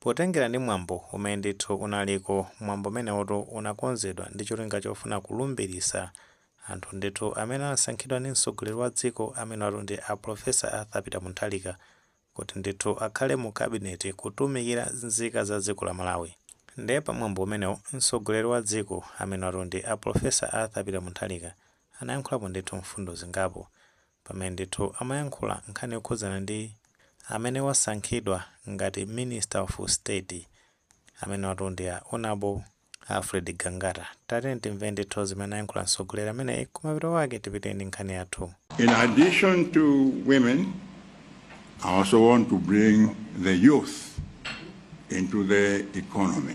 Potengera ndi mwambo umene ndithu unaliko, mwambo umeneutu unakonzedwa ndi cholinga chofuna kulumbiritsa anthu ndithu amene anasankhidwa ndi mtsogoleri wa dziko amenewatu ndi a Professor Arthur Peter Mutharika kuti ndithu akhale mu cabinet kutumikira nzika za dziko la Malawi. Nde pa mwambo umenewu mtsogoleri wa dziko amenewatu ndi a Professor Arthur Peter Mutharika anayankhulapo ndithu mfundo zingapo. pamene ndithu amayankhula nkhani yokhudzana ndi amene wasankhidwa ngati minister of state amenewatu ndi a honourable Alfred Gangata. Tatiyeni timve ndithu zimene ayankhula mtsogoleri ameneyi kumapeto kwake tipite ndi nkhani yathu. In addition to women, I also want to bring the youth into the economy.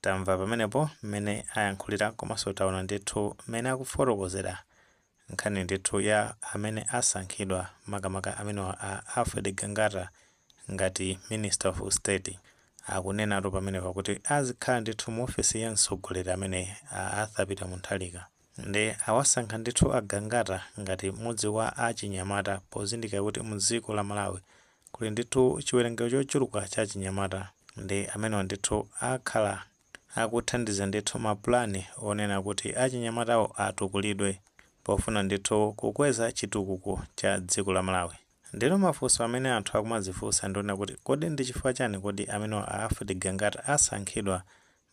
Tamva pamenepo mmene ayankhulira komanso taona ndithu mmene akufotokozera nkhani ndithu ya amene asankhidwa makamaka amenewa a Alfred Gangata ngati Minister of State. Akunenatu pamenepa kuti azikhala ndithu mu ofesi ya mtsogoleri ameneyi a Arthur Peter Mutharika. Nde awasankha ndithu a Gangata ngati mmodzi wa achinyamata pozindikira kuti mu dziko la Malawi kuli ndithu chiwerengero chochuluka cha achinyamata ndi amenewa ndithu akhala akuthandiza ndithu mapulani onena kuti achinyamatawo atukulidwe pofuna ndithu kukweza chitukuko cha dziko la Malawi. Ndeno mafunso amene anthu akumadzifunsa ndi onena kuti kodi ndi chifukwa chani kodi amenewa a Alfred Gangata asankhidwa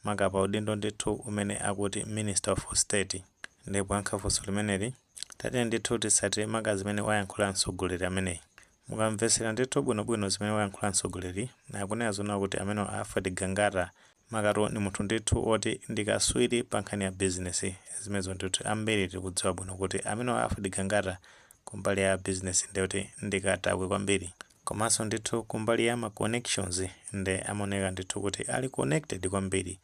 maka pa udindo ndithu umene akuti minister of state. Ndiye poyankha funso limeneli, tatiyeni ndithu titsatire maka zimene wayankhula mtsogoleri ameneyi. Mukamvetsera ndithu bwinobwino zimene wayankhula mtsogoleri, akunena zonena kuti amenewa a Alfred Gangata makatu ndi munthu ndithu woti ndi katswiri pa nkhani ya bizinesi. Zimenezo ndithu ambiri tikudziwa bwino kuti amenewa a Alfred Gangata kumbali ya business nde kuti ndi katakwe kwambiri komanso ndithu kumbali ya ma connections nde amaoneka ndithu kuti ali connected kwambiri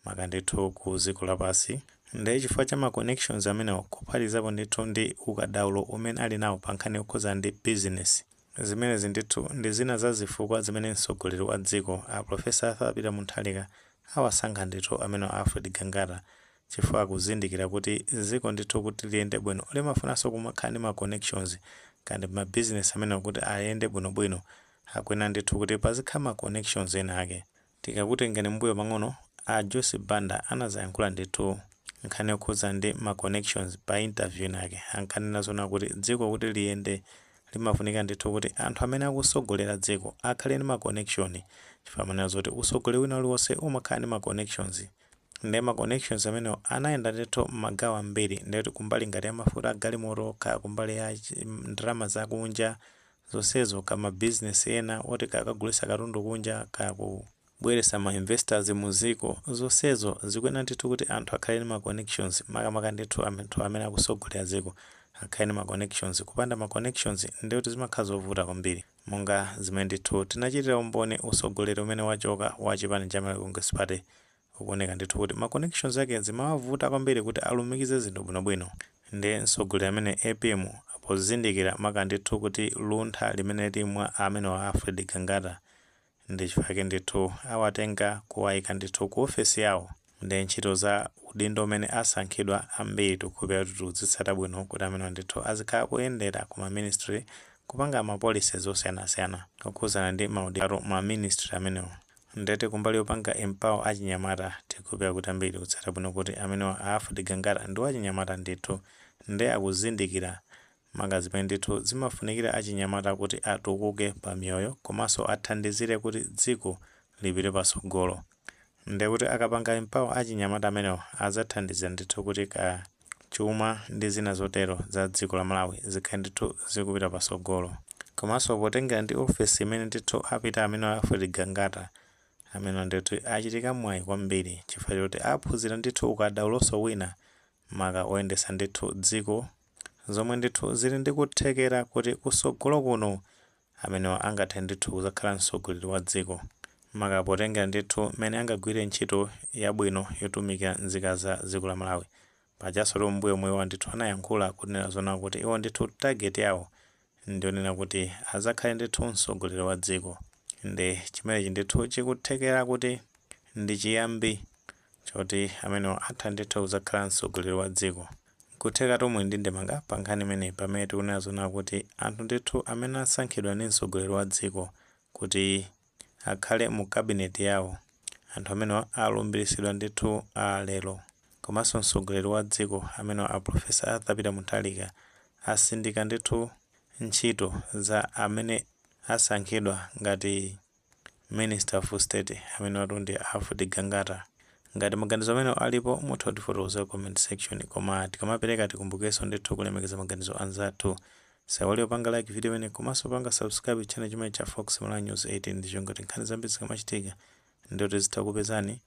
maka ndithu ku dziko lapansi nde chifukwa cha ma connections amenewo kuphatikizapo ndithu ndi ukadaulo umene ali nawo pa nkhani yokhudzana ndi business zimenezi ndithu ndi zina za zifukwa zimene mtsogoleri wa dziko a Professor Arthur Peter Mutharika awasankha ndithu amenewa a Alfred Gangata chifukwa akuzindikira kuti dziko ndithu kuti liyende bwino limafunanso kumakhala ndi ma connections and ma business amenewo kuti ayende bwinobwino akuyenera ndithu kuti pazikhala ma connections ena ake. Tikakutengerani mmbuyo pang'ono, a Joyce Banda anadzayankhula ndithu nkhani yokhudzana ndi ma connections pa interview inayake. Ankanena zonena kuti dziko kuti liyende limafunika ndithu kuti anthu amene akutsogolera dziko akhale ndi ma connection chifukwa amanena zoti utsogoleri wina uliwonse umakhala ndi ma connections. nde ma connections amenewo anayenda ndithu mmagawo ambiri nde kuti kumbali ngati ya mafuta a galimoto kaya kumbali ya chi- ndalama zakunja zonsezo kaya ma business ena oti kaya kagulisa katundu kunja kaya kubwelesa ma investors mu dziko zonsezo zikuyenera ndithu kuti anthu akhale ndi ma connections makamaka ndithu anthu amene akusogolera dziko akhale ndi ma connections kupanda ma connections nde kuti zimakhala zovuta kwambiri Monga zimene ndithu tinachitira umboni utsogoleri umene wachoka wa chipani cha Malawi Congress Party ukuoneka ndithu kuti ma connections ake zimawavuta kwambiri kuti alumikize zinthu bwinobwino ndi mtsogoleri amenewa APM pozindikira maka ndithu kuti luntha limene lili mwa amenewa Alfred Gangata ndichifukwa chake ndithu awatenga kuwaika ndithu ku ofesi yawo nde ntchito za udindo umene asankhidwa ambiri tikukhulupilira kuti tikuzitsata bwino kuti amenewa ndithu azikhala akuyendera ku ma ministry kupanga ma policies osiyanasiyana okhudzana ndi ma udindo ma ministry amenewo nde tili kumbali yopanga empower achinyamata tikukhulupilira kuti ambiri tikutsata bwino kuti amenewa a Alfred Gangata ndi achinyamata ndithu nde akuzindikira maka zimene ndithu zimafunikira achinyamata kuti atukuke pa miyoyo yawo komanso athandizire kuti dziko lipite patsogolo. Ndiye kuti akapanga empower achinyamata amenewa adzathandiza ndithu kuti kaya chuma ndi zina zotero za dziko la Malawi zikhale ndithu zikupita patsogolo. Komanso potengera ndi ofesi imene ndithu apita amenewa a Alfred Gangata, amenewa ndiye kuti achita mwayi kwambiri chifukwa choti aphunzira ndithu ukadaulonso wina maka oyendetsa ndithu dziko zomwe ndithu zili ndi kuthekera kuti kusogolo kuno amenewa angathe ndithu kuzakhala msogoleri wa dziko maka potengera ndithu mmene angagwirire ntchito yabwino yotumikira nzika za dziko la Malawi. Pajasotu m'mbuyomu iwowa ndithu anayankhula kunena zoona kuti iwo ndithu target yawo ndi yonena kuti azakhale ndithu msogoleri wa dziko nde chimenechi ndithu chikuthekera kuti ndi chiyambi choti amenewa atha ndithu kuzakhala msogoleri wa dziko nkuthekatu muli ndi ndemanga pa nkhani imeneyi pamene tikunena zoona kuti anthu ndithu amene asankhidwa ndi msogoleri wa dziko kuti akhale mu cabinet yawo anthu amenewa alumbiritsidwa ndithu aa lero komanso mtsogoleri wa dziko amenewa a professor Arthur Peter Mutharika asindika ndithu ntchito za amene asankhidwa ngati minister of state amenewatu ndi a Alfred Gangata ngati maganizo amenewo alipo mutha kutifotokozera comment section koma tikamapereka tikumbukirenso ndithu kulemekeza maganizo anzathu Osaiwala kupanga like video imeneyi komanso kupanga subscribe channel chimenechi cha Fox Malawi News 18 ndicholinga choti nkhani zambiri zikamachitika ndiye kuti zizitha kukupezani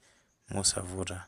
mosavuta.